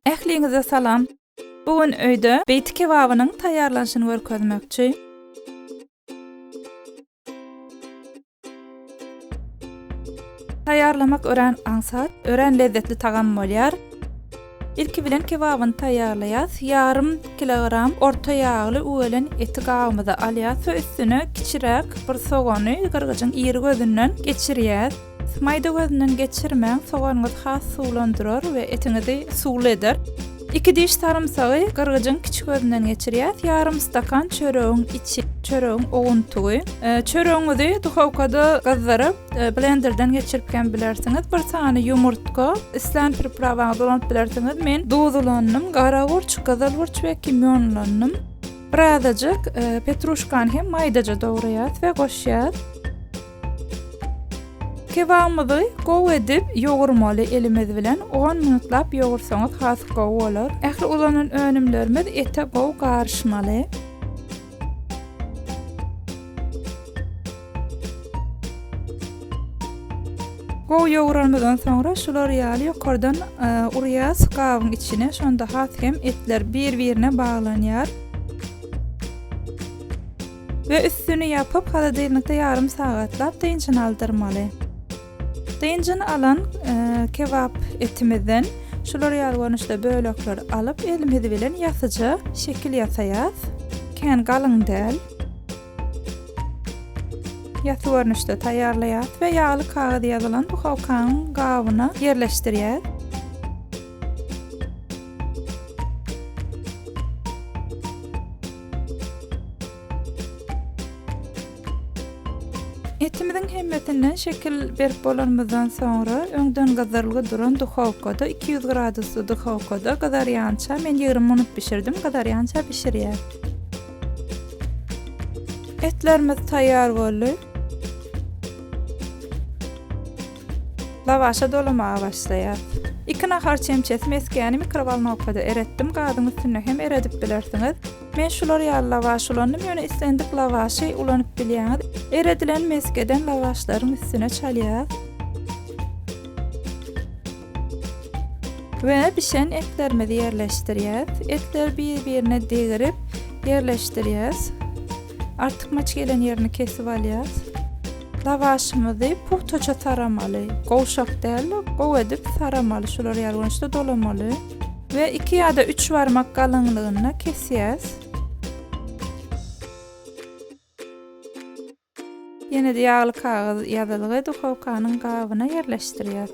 Ähliňize salam! Bu gün öýde beýti kebabynyň taýýarlanyşyny görkezmekçi. Taýýarlamak örän aňsat, örän lezzetli tagam bolýar. Ilki bilen kebabyny taýýarlaýas. Ýarym kilogram orta ýagly üwelen eti gabymyza alýas we üstüne kiçiräk bir sogany gyrgyjyň iri gözünden geçirýäs. Maýda gözünden geçirmäň, soganyňyzy has suwlandyrar we etiňizi suwly eder. Iki diş sarymsagy gyrgyjyň kiçi gözünden geçirýäs, ýarym stakan çöregiň içi, çöregiň owuntygy. E, çöregiňizi duhowkada gyzdyryp, e, blenderden geçirip hem bilersiňiz. Bir sany ýumurtga, islän priprawaňyzy ulanyp bilersiňiz. Men duz ulandym, gara gurç, gyzyl gurç we kimýon ulandym. Birazajyk e, petruşkany hem maýdaja dogryas we goşýas. Kebabymyzy gowy edip ýogurmaly elimiz bilen on minutlap ýogursaňyz has gowy bolar. Ähli ulanan önümlerimiz ete gowy garyşmaly. Gowy ýoguranymyzdan soňra şular ýaly ýokardan e, urýas gabyň içine şonda has hem etler bir-birine baglanýar. we üstüni ýapyp holodilnikde ýarym sagatlap dynjyny aldyrmaly. Dynjyny alan kebap etimizden şular ýaly görnüşde bölekleri alyp elimiz bilen ýasyja şekil ýasaýas. Kän galyň däl. Ýasy görnüşde taýýarlaýas we ýagly kagyz ýazylan duhowkanyň gabyna ýerleşdirýäs. Etimiziň hemmesinden şekil berip bolanymyzdan soňra, öňden gyzarylgy duran duhowkada, iki ýüz gradusly duhowkada gyzarýança, men ýigrimi minut bişirdim, gyzarýança bişirýär. Etlerimiz taýýar boldy. Lawaşa dolamaga başlaýar. Iki nahar çemçesi mesgäni mikrowolnowkada eretdim, gazyň üstünde hem eredip bilersiňiz. Men şular ýaly lawaş ulandym, ýöne islendik lawaşy ulanyp bilýäňiz. Eredilen mesgeden lawaşlaryň üstüne çalýas. We bişen etlerimizi ýerleşdirýäs. Etleri bir-birine degirip ýerleşdirýäs. Artykmaç gelen ýerini kesip alýas. Lawaşymyzy pugtaça saramaly. Gowşak däl-de, gowy edip saramaly. Şular ýaly görnüşde dolamaly. We iki ýa-da üç barmak galyňlygynda kesýäs. Ýene-de ýagly kagyz ýazylgy duhowkanyň gabyna ýerleşdirýäs.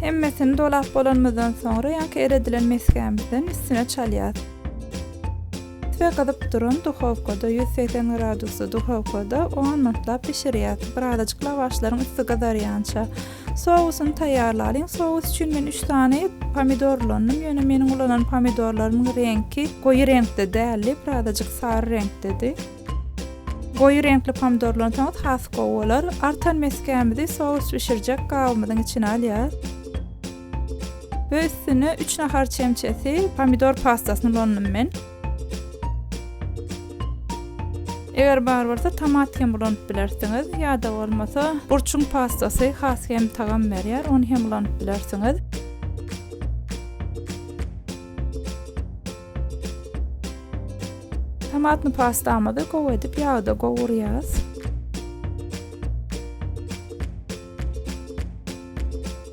Hemmesini dolap bolanymyzdan soňra ýaňky eredilen mesgämizden üstüne çalýas. Ve gyzyp duran duhowkada 180 gradusda duhowkada 10 minutlap bişirýas. Birazajyk lawaşlaryň üsti gyzarýança. Sousyny taýýarlalyň. Sous üçin men 3 sany pomidor ulandym. Ýöne meniň ulanan pomidorlarymyň reňki goýy reňkde däldi, birazajyk sary reňkdedi. Goýy reňkli pomidorlaryny soňuz has gowy bolar. Artan mesgämizi sous bişirjek gabymyzyň içine alýas. We üstüne üç nahar çemçesi pomidor pastasyny ulandym men. Eger bar bolsa tomat hem ulanyp bilersiňiz ýa-da bolmasa burçuň pastasy has hem tagam berýär, ony hem ulanyp bilersiňiz. Tomatny pastamyzy gowy edip ýagda gowurýas.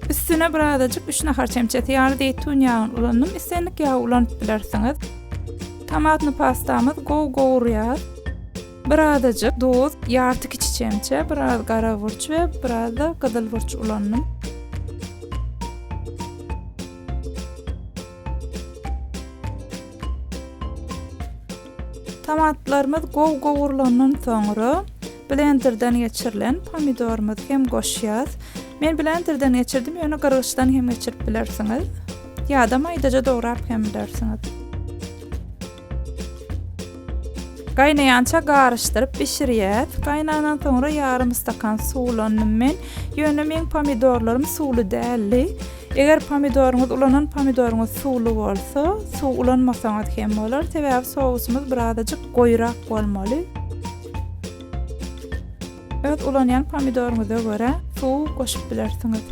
Üstüne birazajyk 3 nahar çemçesi ýaly zeýtun ýagyny ulandym. Islendik ýagy ulanyp bilersiňiz. Tomatny pastamyz gowy gowurýar. Birazajyk duz, ýarty kiçi çemçe, biraz gara burç we biraz da gyzyl burç ulandym. Tomatlarymyz gowy gowrulandan soňra, blenderden geçirilen pomidorymyzy hem goşýas. Men blenderden geçirdim, ýöne gyrgyçdan hem geçirip bilersiňiz. Ýa-da maýdaja dograp hem bilersiňiz. Gaýnaýança garyşdyryp bişirýäs. Gaýnandan soňra ýarym stakan suw ulandym men. Ýöne meň pomidorlarym suwly däldi. Eger pomidoryňyz ulanan pomidoryňyz suwly bolsa, suw ulanmasaňyz hem bolar, sebäbi sousymyz birazajyk goýurak bolmaly. Öz ulanýan pomidoryňyza görä suw goşup bilersiňiz.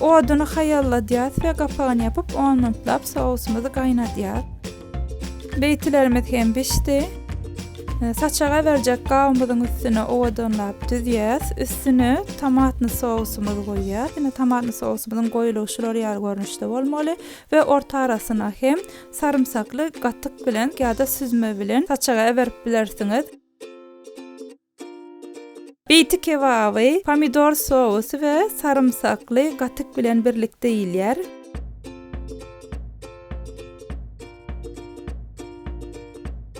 Oduny haýalladýarys we gapagyny ýapyp on minutlap sousymyzy gaýnadýarys. Beýtilerimiz hem bişdi. Saçak aberjek gabymyzyň üstüne owadanlap düzýäs. Üstüne tomatny sousymyzy goýýas. Ine tomatny sousymyzyň goýulygy şular ýaly görnüşde bolmaly we orta arasyna hem sarymsakly gatyk bilen ýa-da süzme bilen saçagy aberip bilersiňiz. Beýti kebaby, pomidor sousy we sarymsakly gatyk bilen birlikde iýilýär.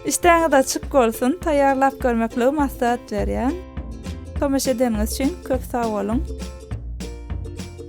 Işdäňiz açyk bolsun, taýýarlap görmekligi maslahat berýän. Tomaşa edeniňiz üçin köp sag boluň.